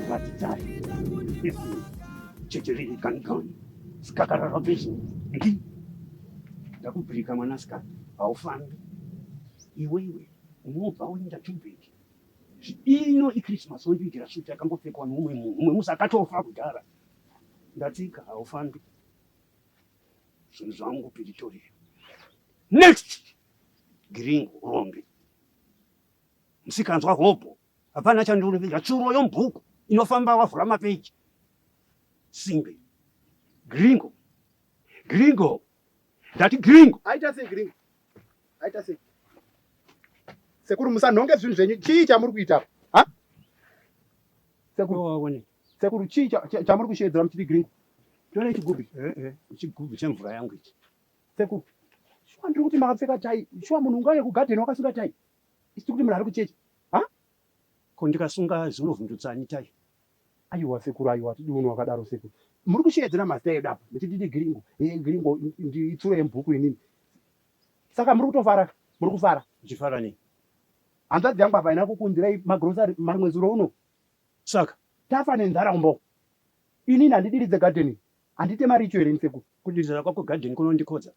Batidari, Ibu, Chitiri Kankan, Skakara Robinson, Ndi, ndakubirika mwanasikana haufambi iwewe unobva uenda tubheki ino ichristmas wondiitira shuti yakambopfekwa noumwe munhu umwe musi akatofa kudhara ndatsika haufambi Zvinhu zvangu piritori. Next. Giringo rombe. Msikanzwa hopo. Hapana chandinoveja tsuro yomubhuku inofamba wavhura mapeji. Simbe. Gringo. Gringo. Ndati gringo. Aita sei gringo? Aita sei? Sekuru musanhonge zvinhu zvenyu. Chii chamuri kuita? Ha? Sekuru waoneka. Sekuru chii chamuri kusheedzera muchiti gringo? Tione chigubhi. Eh, eh. Chigubhi chemvura yangu ichi. Sekuru. Shuwa ndiri kuti makapfeka tai. Shuwa munhu ungaye kugadheni wakasunga tai. Isiti kuti munhu ari kuchechi. Ha? Ko ndikasunga zvinovhundutsani tai. Aiwa sekuru aiwa tidi unhu wakadaro sekuru. Muri kusheedzera mazita edu apa. Muchiti ndi gringo. Eh gringo ndi itsuro yemubhuku inini. Saka muri kutofara. Muri kufara. Ndichifara nei? Hanzvadzi yangu apa ina kukunzirai magrocery mamwe zuro uno. Saka tafa nenzara kumba uko. Inini handidiridze garden iyi. Handite mari icho here ini sekuru? Kudiridza kwako garden kunondikodza.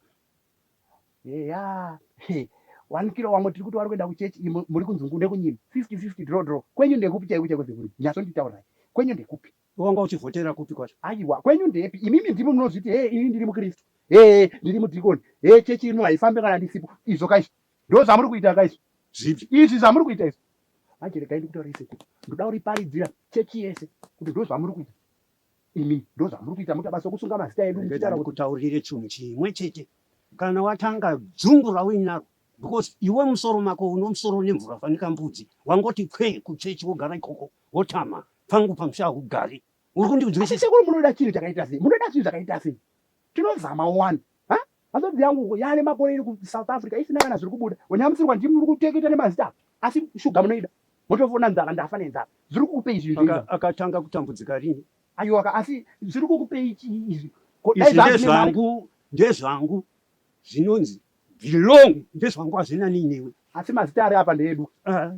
Heya. Hey. One kilo wamwe tiri kuti wari kuenda kuchechi iyi muri kunzi ngunde kunyima. 50-50 draw draw. Kwenyu ndekupi chaiko chaiko sekuru? Nyatso nditaurai. Kwenyu ndekupi? Wanga uchivhotera kupi kwacho? Aiwa, kwenyu ndepi? Imimi ndimi munozviti hee ini ndiri muKristu. Hee ndiri mudhikoni. Hee chechi ino haifambe kana ndisipo. Izvo kaizvo. Ndozvamuri kuita ka izvi. Zvipi? Izvi zvamuri kuita izvi. Manje regai ndikutaurire sekuru. Ndoda kuriparidzira chechi yese kuti ndozvamuri kuita. Imi ndozvamuri kuita muita basa kusunga mazita edu muchitaura kuti kutaurire chinhu chimwe chete. Kana watanga dzungu rauinaro because iwe musoro mako unomusoro nemvura fanika mbudzi wangoti kwe kuchechi wogara ikoko wotama pangu pamusha hugari uri kundiudzisisa sekuru munoda chinhu chakaita sei munoda chinhu chakaita sei tinozama wani Hanzvadzi yangu uko yaane makore iri kuSouth Africa isina kana zviri kubuda. Wanyamutsirwa ndimi muri kuteketa nemazita asi shuga munoida. Motofona nzara ndafa nenzara. Zviri kukupei izvi izvi. Aka, akatanga kutambudzika rini? Ayiwaka asi zviri kukupei chii izvi. Ko dai Izvi zvanzi nemari. ndezvangu, ndezvangu. Zvinonzi belong ndezvangu hazvina nei newe. Asi mazita ari apa ndeedu. Ah,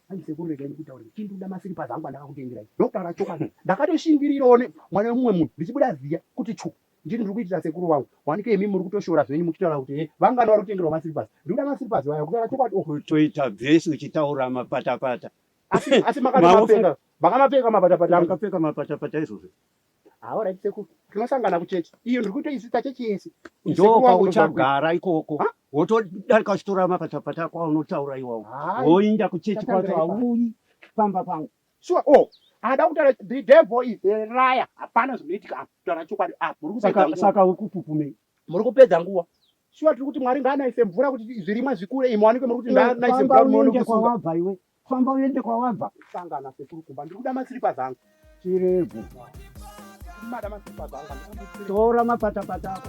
Hanzi sekuru regai ndikutaurire. Chinduda masiripazi angu andakakutengerai. Ndokutaura chokwadi. Ndakatoshingirirawo ne mwana wemumwe munhu ndichibuda ziya kuti chu. Ndini ndiri kuitira sekuru wangu wanike imi muri kutoshora zvenyu muchitaura kuti he vangani vari kutengerwa maslippers ndiri kuda maslippers vaya kutaura chokwadi oh. kutoita vhesi uchitaura mapatapata asi asi makamapenga makamapenga mapatapata makapfeka mapatapata izvozvo hawa right sekuru tinosangana kuchechi iyo ndiri kutoisisa chechi yese ndokauchagara ikoko wotodarika uchitora mapatapata ako aunotaura iwawo woinda kuchechi kwacho auyi pamba pangu Sure oh ada kutaura the devil is a liar hapana zvinoitika apa taura chokwadi apa muri kupedza nguva saka uri kupupumei muri kupedza nguva sure tiri kuti mwari ngaanaise mvura kuti zvirimwa zvikure imwe wanike muri kuti ngaanaise mvura unoende kwawabva iwe famba uende kwawabva sangana sekuru kumba ndiri kuda masiripa zangu chirego mada masiripa zangu tora mapatapata ako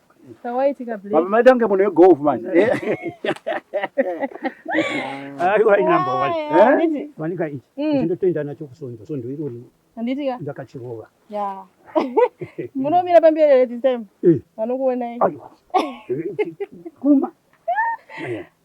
Chawaitika Blake. Baba maita kunge munhu wegolf manje. Aiwa ina number one. Eh? Handiti? Wanika ichi. Mm. Ndinotenda nacho kusondo. Sondo iro ri. Handiti ka? Ndakachirova. Yeah. Munomira pamberi here this time? Eh. Vanokuonai. Aiwa. Kuma. Yeah.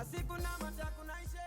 asi kunamata kunaishe